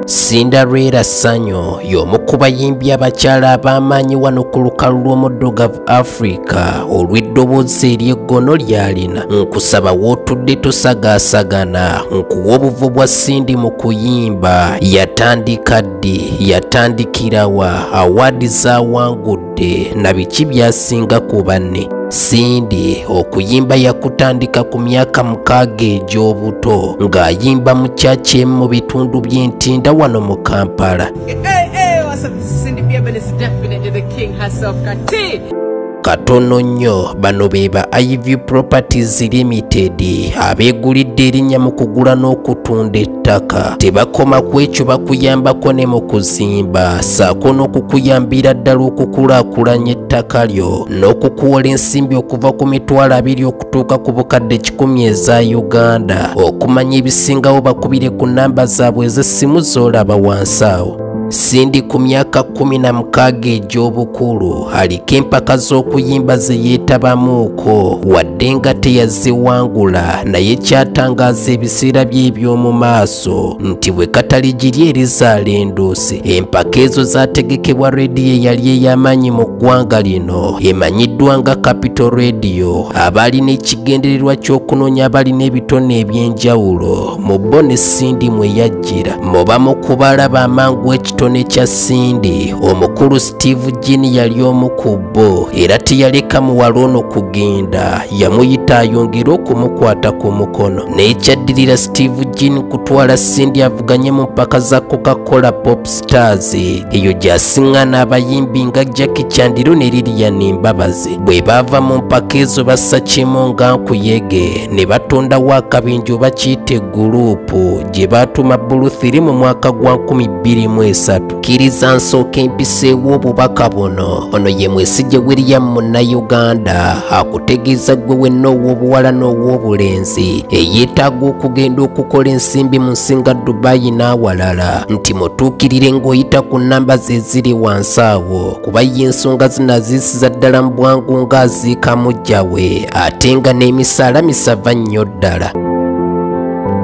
Cinderella Sanyo y'omu ku bayimbi abakyala ab'amaanyi wano ku lukalu lw'omuddugavu Africa olw'eddoboozi ery'eggono ly'alina nkusaba w'otudde tosagaasagana nkuwa obuvo bwa Cindy mu kuyimba yatandika ddi yatandikirawa awaadi zaawangudde Wadde na biki byasinga ku banne, Cindy okuyimba yakutandika ku myaka mukaaga egy'obuto ng'ayimba mu kyaki emu mu bitundu by'entinda wano mu Kampala. Katono nnyo bano be ba Ivy Properties Limited abeegulidde erinnya mu kugula n'okutunda ttaka tebakoma ku ekyo bakuyambako ne mu kuzimba saako n'okukuyambira ddala okukulaakulanya ettaka lyo n'okukuwola ensimbi okuva ku mitwalo abiri okutuuka ku bukadde kikumi eza uganda okumanya ebisingawo bakubire ku namba zaabwe ez'essimu z'olaba wansi awo Sindi ku myaka kkumi na mukaaga egy'obukulu aliko empaka z'okuyimba ze yeetabamuuko wadde nga teyaziwangula naye kyatangaaza ebiseera bye eby'omu maaso nti bwe katali giri erizaala enduusi empaka ezo zaategekebwa rediyo eyali ey'amaanyi mu ggwanga lino emanyiddwa nga capital radio abaali n'ekigendererwa ky'okunoonya abalina ebitone eby'enjawulo mu bo ne Sindi mwe Gira mu bamu ku balaba amangu ekitone kya Cindy, omukulu Steve Jean yali omu ku bo era teyaleka muwala ono kugenda. Yamuyita ayongere okumukwata ku mukono. N'ekyaddirira Steve Jean kutwala Cindy avuganye mu mpaka za Coca-Cola Pop Stars. Eyo gy'asiŋŋana abayimbi nga Jackie Chandiru ne Lilian Mbabazi. Bwe baava mu mpaka ezo bassa kimu nga nkuyege ne batondawo akabinja oba kiyite guruupu. Nupu gye baatuma Buluthiri mu mwaka gwa 2023. Kkiriza nsooka empiseewo obubaka buno. Ono ye Mwesigye William Munnayuganda akutegeeza gwe wenna ow'obuwala n'ow'obulenzi eyeetaaga okugenda okukola ensimbi mu nsinga Dubai n'awalala nti mutuukirire ng'oyita ku nnamba ze ziri wansi awo kuba ye ensonga zino aziisiza ddala mu bwangu ng'aziika muggya we ate nga n'emisaala misava nnyo ddala.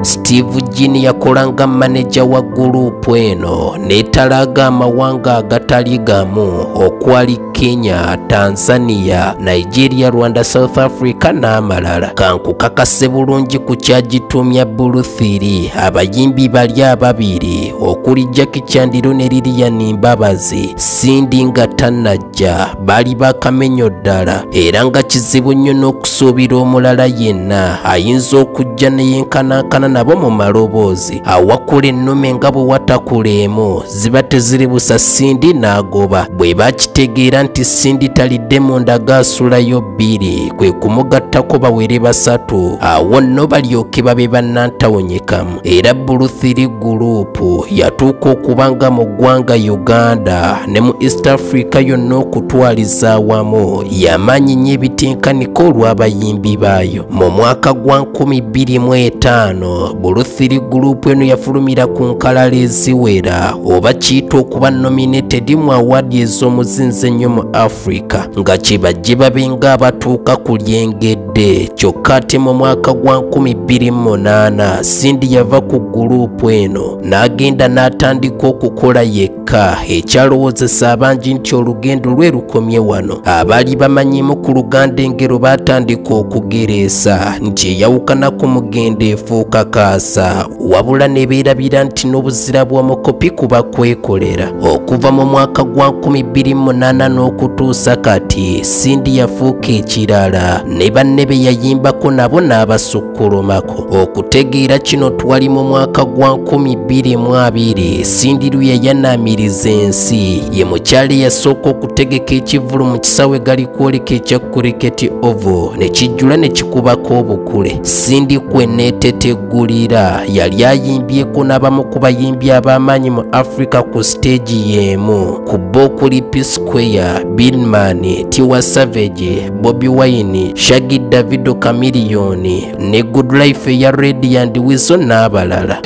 Steve Jin yakola nga maneja wa guruupu eno n'etalaaga amawanga agatali gamu okwali Kenya, Tanzania, Nigeria, Rwanda, South Africa n'amalala. Kankukakase bulungi ku kyagitumya Buluthiri abayimbi bali ababiri okuli Jackie Chandiru ne Lilian Mbabazi Cindy nga tanna abasajja baali bakamenyo ddala era nga kizibu nnyo n'okusuubira omulala yenna ayinza okujja neyenkanankana nabo mu maloboozi awakula ennume nga bwe watakula emu ziba teziri busa sindi n'agoba bwe bakitegeera nti sindi talidde mu ndaga asulayo bbiri kwe kumugattako bawere basatu awo nno balyoke babe bannantawonyekamu era buluthiri guruupu yatuuka okuba nga mu ggwanga uganda ne mu east africa yonna okutwaliza awamu yamaanyi nnyo ebitinkanika olw'abayimbi baayo mu mwaka gwa 25 buluthiri guruupu eno yafulumira ku nkalala eziwera oba kiyita okuba nominated mu awaadi ez'omuzinzi ennyo mu africa nga kibajje babe nga abatuuka ku lyengeri Dde kyokka ate mu mwaka gwa 2008 Cindy yava ku guluupu eno n'agenda n'atandika okukola yekka ekyalowoozesa abangi nti olugendo lwe lukomye wano abaali bamanyimu ku luganda engero baatandika okugereesa nti eyawukana ku mugendo efuuka kaasa wabula ne beerabira nti n'obuzira bw'omukopi kuba kwekolera okuva mu mwaka gwa 2008 n'okutuusa kati sindi yafuuka ekirala ne banne be yayimbako nabo n'abasukkulumako okutegeera kino twali mu mwaka gwa 2022 sindi luyayanaamiriza ensi ye mukyala eyasooka okutegeka ekivulu mu kisaawe gali kwoleka ekya kuriketi ovo ne kijjula ne kikubako obukule sindi kweneetetegwa Gulira yali ayimbyeko n'abamu ku bayimbi ab'amaanyi mu Africa ku siteegi y'emu ku bo okuli P Square, Binman, Tiwa Savage, Bobi Wine, Shaggy Davido Chameleon ne Good Life eya Radiant Weasel n'abalala.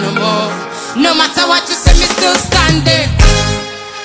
No matter what you say, me still standing.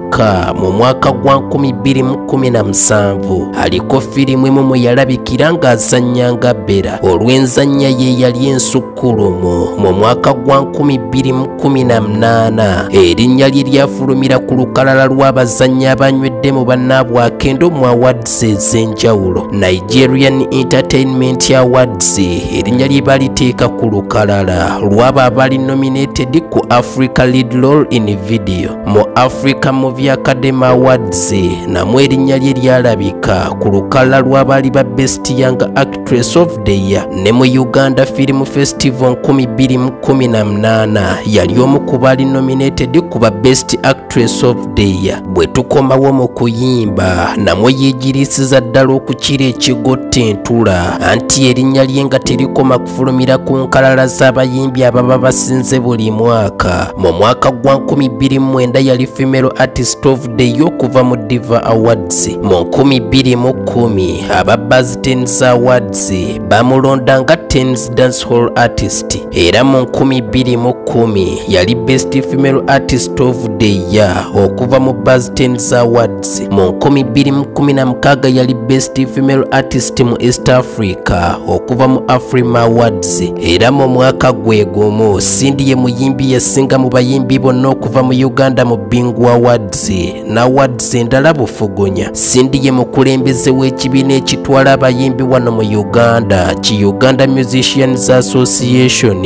Kyokka mu mwaka gwa 2017 aliko firimu emu mwe yalabikira ng'azannya nga Bera olw'enzannya ye yali ensukkulumu mu mwaka gwa 2018 erinnya lye lyafulumira ku lukalala lw'abazannyi abanywedde mu bannaabwe akendo mu awards ez'enjawulo Nigerian Entertainment Awards erinnya lye baliteeka ku lukalala lw'abo abali nominated ku Africa Lead Role in Video mu africa movie academy awards namwe erinnya lye lyalabika ku lukalala lw'abaali ba best young actress of the year ne mu uganda film festival 2018 yali omu ku baali nominated ku ba best actress of the year bwe tukomawo mu kuyimba namwe yeegiriisiza ddala okukira ekigotta entula anti erinnya lye nga terikoma efulumira ku nkalala z'abayimbi ababa basinze buli mwaka mu mwaka gwa 2009 yali female artist of the year okuva mu diva awards mu 2010 aba buzz tens awards bamulonda nga tens dancehall artist era mu 2010 yali best female artist of the year okuva mu buzz tens awards mu 2016 yali best female artist mu east africa okuva mu afrima awards era mu mwaka gwe gumu cindy ye muyimbi yasinga mu bayimbi bonna okuva mu uganda mu bingu awards na awards endala bufugunya cindy ye mukulembeze w'ekibiina ekitwala abayimbi wano mu uganda ki uganda musicians association